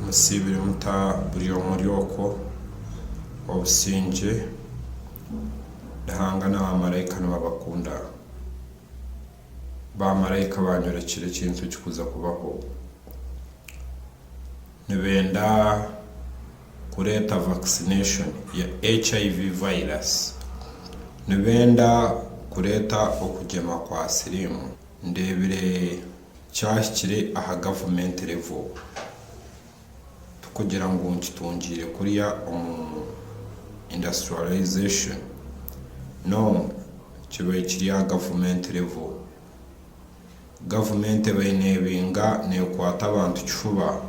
Musiibire muta buri omwe ori okwo? Obusingye, Ruhanga na baamaraika nibabakunda. Baamaraika baanyorekyera ekintu ekikuza kubaho. Nibenda kureeta vaccination ya HIV virus. Nibenda kureeta okugyema kwa siriimu. Ndeebire. Kyahikire aha government level tikugira ngu nikitungiire kuriya omu industrialisation no kibaire kiri aha government level. Government ebaire nebinga nekwata abantu kifuba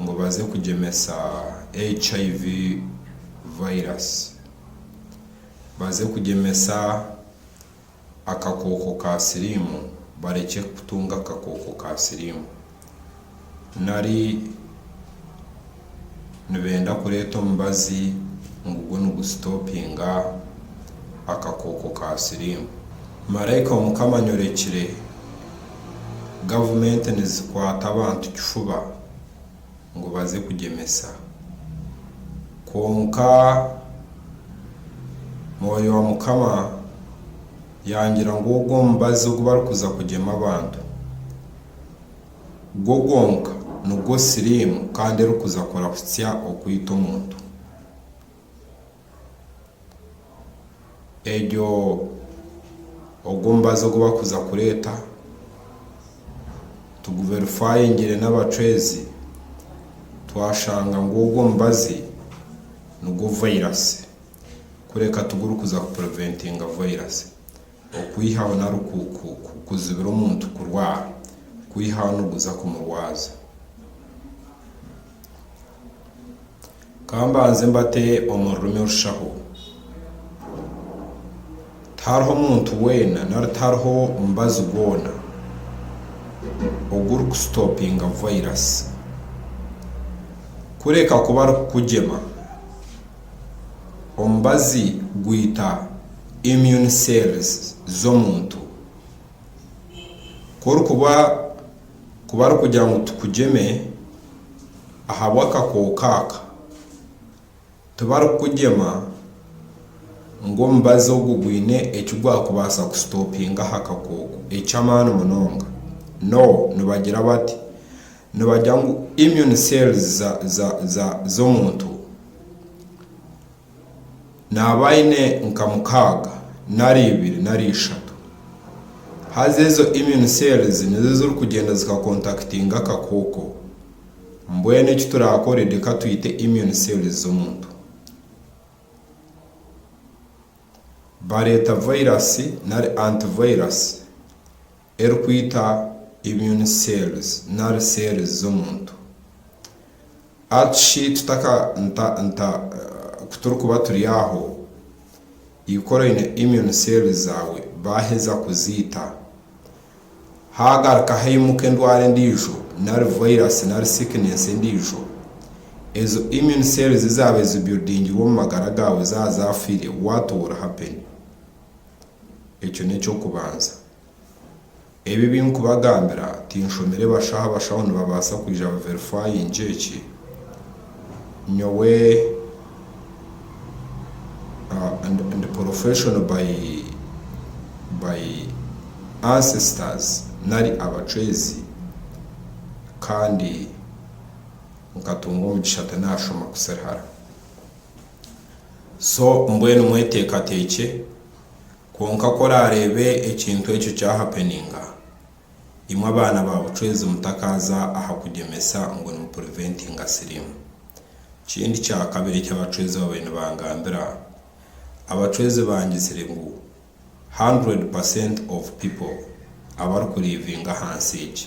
ngu baze kugyemesa HIV virus baze kugyemesa. akakooko ka siriimu barekye kutunga akakooko ka siriimu nari nibenda kureeta omubazi ngu gu nigusitopinga akakooko ka siriimu. Maraika wa Mukama anyorekire gavumenti nizikwata abantu kifuba. ngu baze kugyemesa. Kwonka Mwoyo wa Mukama yangira ngu ogwo omubazi ogu barikuza kugyema abantu, gwo gwonka nigwo siriimu kandi erikuza kurahutsya okwita omuntu. egyo ogwo omubazi ogu barikuza kureeta tuguverifayingire n'abacwezi twashanga ngu ogwo omubazi nigwo vayirasi kureka tigurikuza kupurintinga vayirasi okwihaho nari kuzibira omuntu kurwara kwihaho niguza kumurwaza. Ka mbanze mbate omu rurimi orushaho. Tihariho muntu weena nari tihariho mubazi gwona ogurikusitopinga vairasi kureka kuba arikukugyema. Omubazi gwita immune cells z'omuntu. Ku orikuba... Ku barikugira ngu tukugyeme ahabw'akakooko aka, tibarikukugyema ngu omubazi ogu gwine eki gwakubaasa kusitopinga aha kakooko eky'amaani munonga. No, nibagira bati, nibagira ngu immune cells za, za, za, z'omuntu. Naaba aine nka mukaaga nari ibiri nari ishatu. Haza ezo immune cells nizo ezirikugyenda zikakontakitinga akakooko. Mbwenu eki turaakore reka twite immune cells z'omuntu. Bareeta vairasi nari antivairasi erikwita immune cells nari cells z'omuntu. Ashi tutaka nta nta ku turikuba turi aho, ikora oine immune cells zaawe baaheza kuziita, haagaruka haimuka endwara endiijo nari virus nari sickness endiijo, ezo immune cells zaaba ezi buildingirwe omu magara gaawe zaaba zaafiire, what will happen? Ekyo n'eky'okubanza. Ebi ebi nkubagambira tinshomire bashaho abashaho nibabaasa kwija baverifayinge eki nyowe ndi porofeshono bayi bayi ansesitazi nari abacwezi kandi nkatunga omugisha tinaashoma kusirihara so mbwenu mweteekateekye Kwonka ku oraareebe ekintu ekyo kyahapeninga, imwe abaana ba bucwezi mutakaaza aha kugyemesa ngu nimupriventinga siriimu. Kindi kya kabiri eki abacwezi babaire nibangambira, abacwezi bangizire ngu hundred percent of people abarikuriivinga ahansi egi,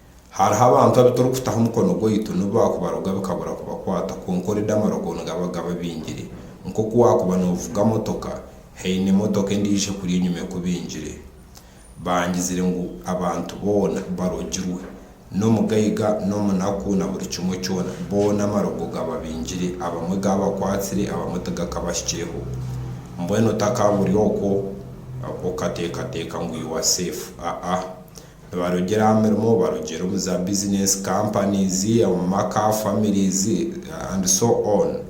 Hariho abantu abu turikutaho omukono gwaitu n'obu baakubaroga bikabura kubakwata kwonka oredi amarogo nigaba gababingire. Nk'oku waakuba noovuga motoka, haine motoka endiijo ekuri enyima ekubingire. Baangizire ngu abantu boona barogirwe. N'omugaiga, n'omunaku na buri kimwe kyona, boona amarogo gababingire. Abamwe gaabakwatsire, abamwe tigakabahikireho. Mbwenu otakaaba ori okwo, okateekateeka ngu you are safe. Aa. Nibarogyera aha mirimo, barogyera omu za business, companies, omu maka, families and so on.